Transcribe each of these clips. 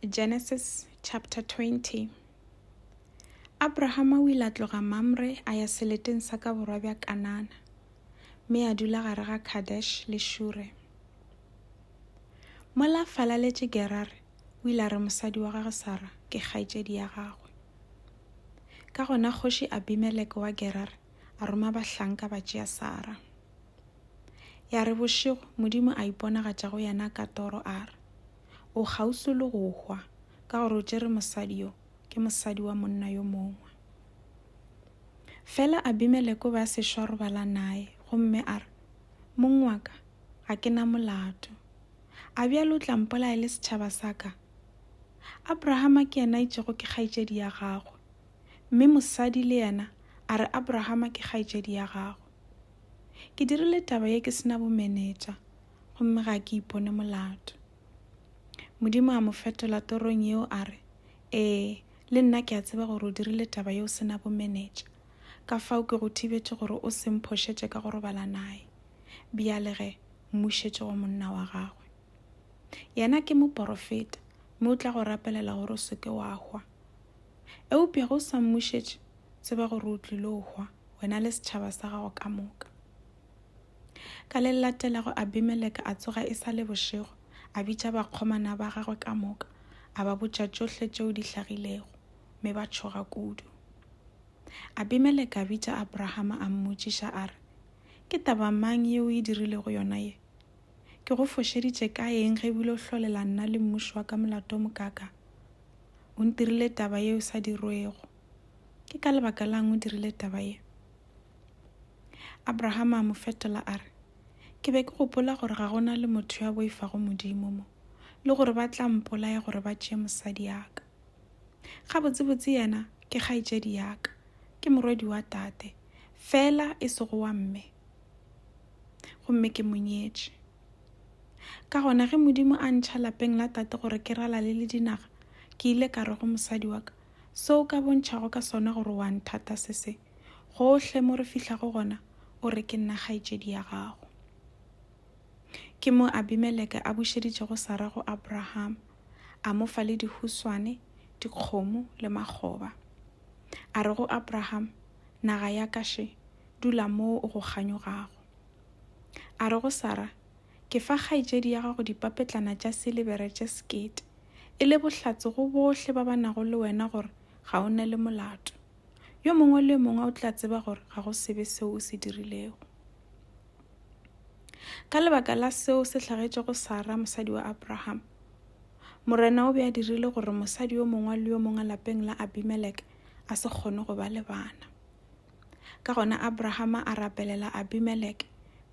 Genesis chapter 20 Abrahama o ile a tloga Mamre a ya seleteng sa ka borwa bja Kanana, mme a dula gare ga Kadesh le Shure. Mola falaletše Gerare, o ile a re mosadi wa gagwe Sara ke kgaetšedi ya gagwe. Ka gona kgoši Abimeleke wa Gerare a roma bahlanka ba tšea Sara. Ya re bošego Modimo a iponagatša go yena ka toro a re, O kgauswi le go hwa ka gore o tšere mosadi yo, ke mosadi wa monna yo mongwe. Fela Abimeleko ba se šwa robala naye, gomme a re, Mong wa ka, ga ke na molato. A bjalo o tla mpolaya le setšhaba sa ka? Abrahama ke yena itšego ke kgaetšedi ya gagwe, mme mosadi le yena a re Abrahama ke kgaetšedi ya gagwe. Ke dirile taba ye ke sena bomenetša, gomme ga ke ipone molato. Modimo a mo fetola torong yeo a re, Ee, le nna ke a tseba gore o dirile taba ye o sena bomenetša, ka fao ke go thibetše gore o se mphošetše ka go robala naye. Bjale ge, mmušetše go monna wa gagwe. Yena ke moporofeta, mme o tla go rapelela gore o se ke wa hwa. Eupša ge o sa mmušetše, Tseba gore o tlilo hwa, wena le setšhaba sa gago ka moka. Ka le latelago Abimeleka a tsoga e sa le bošego, a bitša bakgomana ba gagwe ka moka, a ba botša tšohle tšeo di hlagilego, mme ba tšhoga kudu. Abimeleka a bitša Abrahama a mmotšiša a re, Ke taba mang yeo e dirilego yona ye? Ke go fošeditše ka eng ge bile o hlolela nna le mmuši wa ka molato o mokaka? O ntirile taba yeo sa dirwego. ke ka lebaka lang o dirile taba ye? Abrahama a mo fetola a re, Ke be ke gopola gore ga gona le motho ya boifago Modimo mo, le gore ba tla mpolaya gore ba tšee mosadi ya ka. Gabotsebotse yena ke kgaetšedi ya ka, ke morwedi wa tate, fela e sego wa mme. Gomme ke mo nyetše. Ka gona ge Modimo a ntšha lapeng la tate gore ke ralale le dinaga, ke ile ka re go mosadi wa ka, Se o ka bontšhago ka sona gore o a nthata se se, Gohle mo re fihlago gona o re ke nna kgaetšedi ya gago. Ke mo Abimeleke a bušeditšego Sara go Abraham, a mo fa le dihuswane, dikgomo le makgoba. A re go Abraham, Naga ya ka, še, dula moo o go kganyogago. A re go Sara, Ke fa kgaetšedi ya gago dipapetlana tša silebere tše sekete, e le bohlatse go bohle ba ba nago le wena gore ga o ne le molato. Yo mongwe le yo mongwe o tla tseba gore ga go sebe seo o se dirilego. Ka lebaka la seo se hlagetšego Sara, mosadi wa Abraham, Morena o be a dirile gore mosadi yo mongwe le yo mongwe lapeng la Abimelek a se kgone go ba le bana. Ka gona Abrahama a rapelela Abimeleke,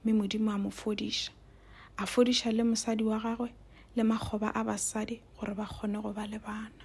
mme Modimo a mo fodiša. A fodiša le mosadi wa gagwe le makgoba a basadi gore ba kgone go ba le bana.